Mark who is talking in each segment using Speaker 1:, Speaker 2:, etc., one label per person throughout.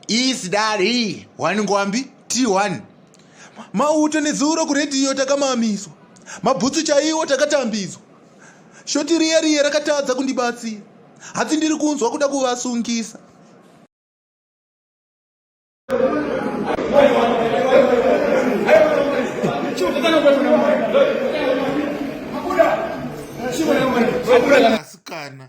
Speaker 1: iyi sidari iyi wani ngwambi t1 mauto nezuro kuredhiyo takamamiswa mabhutsu chaiwo takatambidzwa shoti riya riya rakatadza kundibatsira hatsi ndiri kunzwa kuda kuvasungisa asikana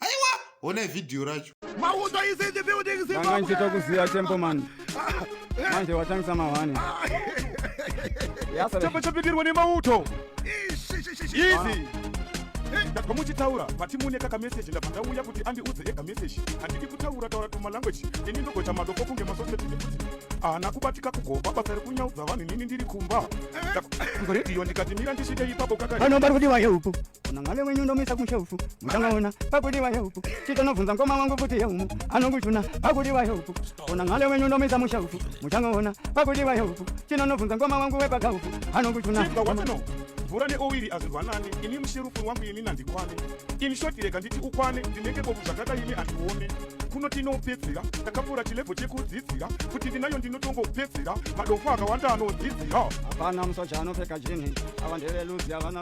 Speaker 1: aiwa honai vhidhiyo racho ndanga ndichita
Speaker 2: kuziva tempo mani manje watangisa mahwani
Speaker 3: chapa chapindirwa nemauto izi ndabva muchitaura vati mune kaka meseji ndabva ndauya kuti andiudze ega meseji handidi kutaura taura tuma language ini ndogoita madoko kunge masoseti nekuti haana kubatika kugopa basa rekunyaudza vanhu inini ndiri kumba ndoredio ndikatimira ndisvike ipapo kakaiano vari kuti vaye upo
Speaker 2: Kuna ngale wenyu ndomisa kumshefu mutangaona pakuti waye uku chitonobvunza mkoma wangu kuti yeumu anokuchuna pakuti waye uku kuna ngale wenyu ndomisa mushefu mutangaona pakuti waye uku chinonobvunza mkoma wangu wepakauku anokuchuna mvura
Speaker 3: neowiri azvirwanane ini musherufuru wangu ini nandikwane ini shoti rega nditi ukwane ndinenge bobu zvakada ini andione kuno tinopedzera takapfuura chilebho chekudzidzira kuti ndinayo ndinotongopedzera madofo akawanda anodzidzira hapana musoja
Speaker 2: anopfeka jini ava ndeveluzi avana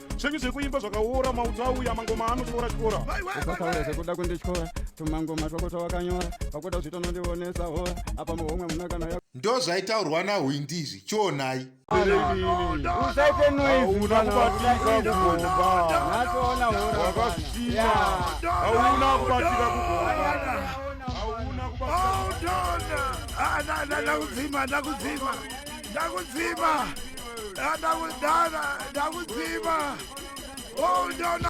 Speaker 3: zvenyu zvekuimba zvakaora mauto auya mangoma ano chikora chikora ukataura zvekuda
Speaker 2: kundityora tumangoma twako twawakanyora pakuda kuzvita unondionesa hora apa muhomwe muna kana ya ndo zvaitaurwa
Speaker 1: nahwindi izvi chionai
Speaker 2: usaite
Speaker 3: noiziaona kubatika kugoauna kubatika kugoa
Speaker 4: ndakudzima ndakudana ndakudzima oh no no